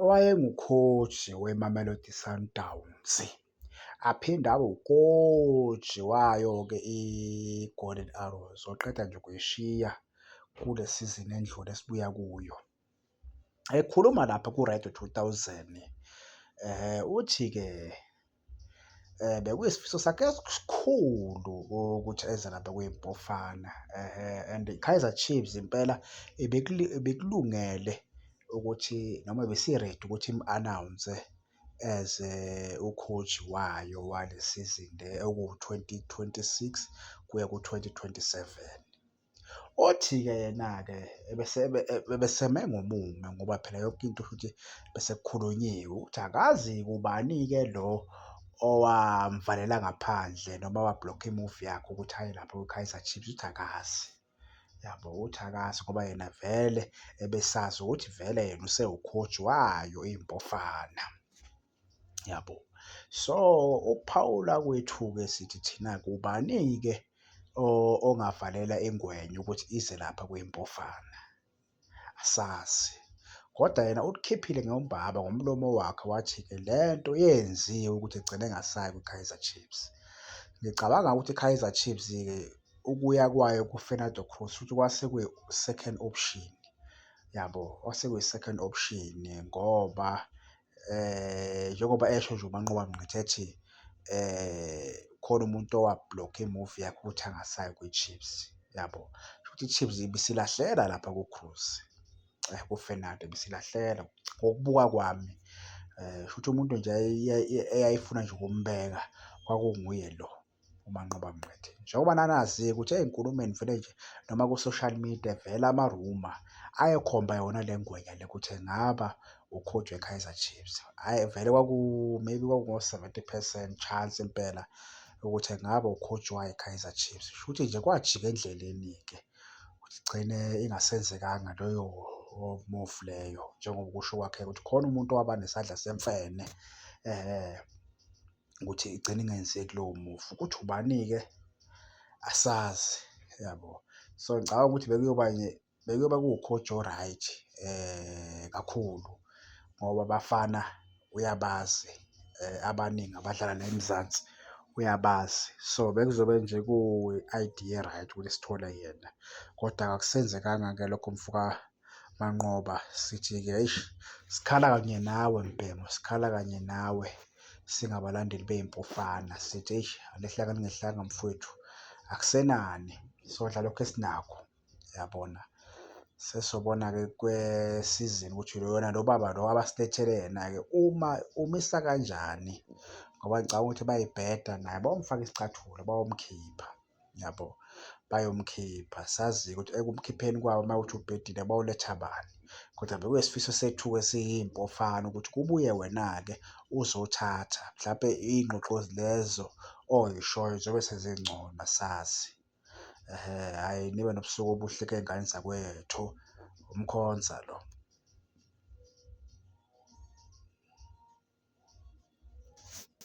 owayengukhoji weMamelodi Sundowns, aphinde abe ukhoji wayo-ke iGolden Arrows, oqeda nje ukuyishiya kule sizini endlule esibuya kuyo. Ekhuluma lapha ku-Radio 2000, uthi-ke um bekuyisifiso sakhe esikhulu ukuthi eze lapha kwiBafana um and iKaizer Chiefs impela ibikulungele ukuthi noma ibisi-ready ukuthi imu-anawunse as u-coach wayo wale sizini le ewu-twenty twenty-six kuya ku-twenty twenty-seven. Othi-ke yena-ke ebeseme ngomume ngoba phela yonke into futhi besekukhulunyiwe ukuthi akazi kubani-ke lo owamvalela ngaphandle noma wa-block-a i-move yakhe ukuthi aye lapho kwi-Kaizer Chiefs uthi akazi. Yabo uthi akazi ngoba yena vele ebesazi ukuthi vele yena usewukhoji wayo iMpofana. yabo so ukuphawula kwethu-ke sithi thina kubani-ke ongavalela ingwenya ukuthi ize lapha kwimpofana asazi kodwa yena ulikhiphile ngombaba ngomlomo wakhe wathi-ke le nto yenziwe ukuthi igcine ngasayi kwi-kaizer chiefs ngicabanga ukuthi i-kaizer chiefs-ke ukuya kwayo ku-fernando cruz futhi kwase kwi-second option yabo kwase kwi-second option ngoba eh njengoba esho nje uManqoba Mngqithi ethi eh khona umuntu owa-block-a i-movie yakhe ukuthi angasayi kwi-Chiefs, yabo. Kushuthi i-Chiefs ibisilahlela lapha ku-Cruz, ku-Fernando ibisilahlela ngokubuka kwami. Kushuthi umuntu nje eyayifuna nje ukumbeka kwakunguye lo. uManqoba Mngqithi. Njengoba nanazi ukuthi ey'nkulumeni vele nje noma ku-social media vele amaruma ayekhomba yona le ngwenya le ukuthi engaba ukhotshwe weKaizer Chiefs. Hhayi vele kwaku maybe kwakungo-seventy percent chance impela ukuthi engaba ukhotshi wayo iKaizer Chiefs. Shuthi nje kwajika endleleni-ke ukuthi igcine ingasenzekanga loyo move leyo njengoba kusho kwakhe ukuthi khona umuntu owaba nesandla semfene . ukuthi igcine ingenzeki lowo mufi ukuthi ubani-ke asazi yabo so ngicabanga ukuthi bekuyoba bekuyoba kuwukhoji o-right um kakhulu ngoba abafana uyabazi um abaningi abadlala la emzansi uyabazi so bekuzobe nje kuyi-idea e-right ukuthi sithole yena kodwa akusenzekanga-ke lokho mfoka Manqoba sithi-ke eish sikhala kanye nawe mbhemu sikhala kanye nawe singabalandeli bey'mpofana sithi eish alehlanga lingehlanga mfwethu akusenani sodla lokho esinakho yabona sesobona-ke kwesizini ukuthi lona lo baba lo abasilethele yena-ke uma umisa kanjani ngoba ngicabanga ukuthi bayibheda naye bawumfaka isicathulo bawomkhipha. yabo bayomkhipha sazi ukuthi ekumkhipheni kwabo uma uthi ubhedile bawuletha bani kodwa bekuyisifiso sethu-ke siyimpofana ukuthi kubuye wena-ke uzothatha mhlawumpe iy'ngxoxo lezo oyishoyo zobe sezingcono sazi um hhayi nibe nobusuku obuhle key'ngane zakwethu umkhonza lo